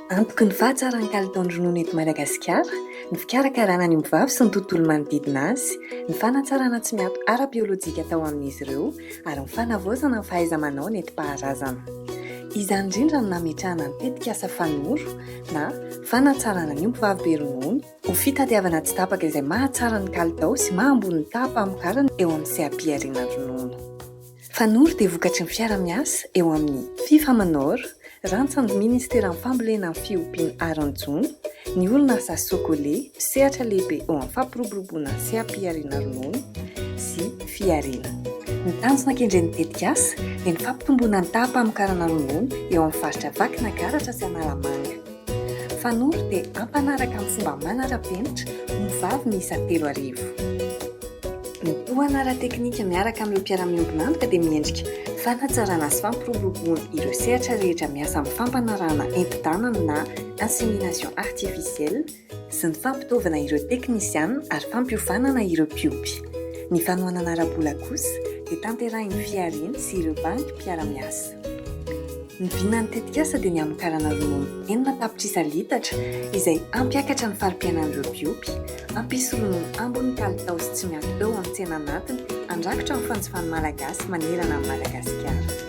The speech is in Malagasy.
Antoky ny fahatsaran'ny kalitaon'ny ronono eto Madagasikara ny fikarakarana ny ombivavy sy ny tontolo manodidina azy, ny fanatsarana tsy miato ara-biolojika atao amin'izy ireo ary ny fanavaozana ny fahaiza-manao nentim-paharazana. Izany indrindra no nametrahana ny tetikasa Fanoro na Fanatsarana ny ombivavy be ronono, Ho fitadiavana tsy tapaka izay mahatsara ny kalitao sy maha ambony ny taham-pamokarana eo amin'ny seha-pihariana ronono. Fanoro dia vokatry ny fiara-miasa eo amin'ny Fifamanor, rantsan'ny Ministeran'ny Fambolena ny fiompiana ary ny jono, ny orinasa Socole, mpisehatra lehibe eo amin'ny fampiroboroboana ny seha-pihariana ronono sy fihariana. Ny tanjona kendren'ny tetikasa dia ny fampitomboana ny taham-pamokarana ronono eo amin'ny faritra Vakinankaratra sy Analamanga. Fanolo dia ampanaraka amin'ny fomba manara-penitra ho vavy miisa telo arivo. Ny tohana ara-teknika miaraka amin'ireo mpiara-miombon'antoka dia miendrika fanatsarana sy fampiroboroboana ireo sehatra rehetra miasa amin'ny fampanarahana enti-tanana na insémination artificielle sy ny fampitaovana ireo teknisiana ary fampiofanana ireo mpiompy. Ny fanohanana ara-bola kosa dia tanterahin'ny Fiariny sy ireo banky mpiara-miasa. Ny vinan'ny tetikasa dia ny hamokarana ronono enina tapitrisa litatra izay hampiakatra ny fari-piainan'ireo mpiompy, hampisy ronono ambony kalitao sy tsy miato eo amin'ny tsena anatiny handrakotra ny fanjifan'ny Malagasy manerana an'i Madagasikara.